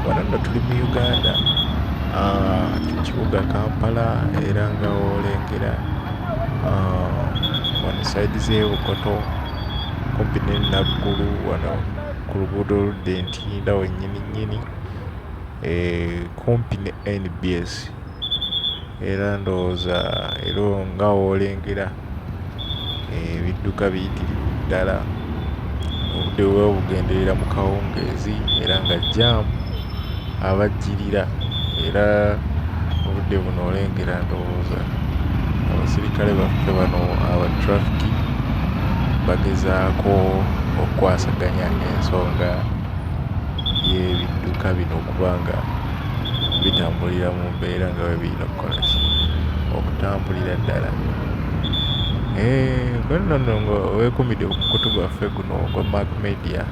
wano nno tuli mu uganda ekibuga ah, kampala era nga olengera ah, wano saidi zebukoto kumpi nenaggulu wano ku luguudo oludda entiinda wenyini nyini eh, kumpi ne nbs era ndowooza era olwo nga w'olengera ebidduka biyitirivu ddala obudde buba bugenderera mu kawungeezi era nga jjaamu abajjirira era obudde buno olengera ndowooza abasirikale baffe bano aba ttulafiki bagezaako okukwasaganya ensonga y'ebidduka bino okuba nga. bitambulira mu mbeera nga bwe birina okukola ki? Okutambulira ddala. Eehh gwe nno nga weekuumidde ku mukutu gwaffe guno ogwa Mac Media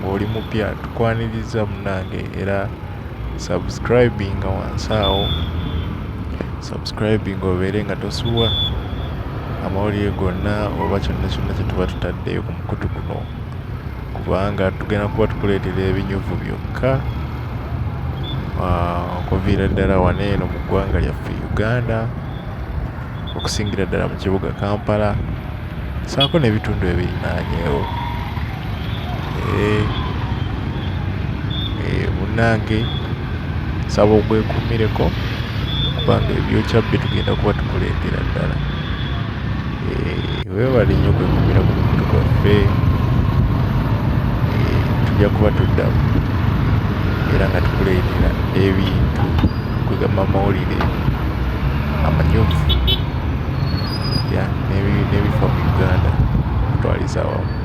ng'oli mupya tukwanirizza munnange era subscribinga wansi awo subscribinga obeere nga tosubwa amawulire gonna oba kyonna kyonna kye tuba tutaddeyo ku mukutu guno kubanga tugenda kuba tukuleetera ebinyuvu byokka ah, okuviira ddala wano eno mu ggwanga lyaffe uganda okusingira ddala mu kibuga kampala saako n'ebitundu ebirinaanyeewo munnange eh, eh, nsaba ogwekumireko kubanga ebyokya bye tugenda kuba tukuleetera ddala eh, webale nnyo kwekumira ku muntu kwaffe eh, tujja kuba tuddamu era nga tukuleetera ebintu kwegamba amawulire amanyuvu ya nebifa mu uganda kutwaliza wamu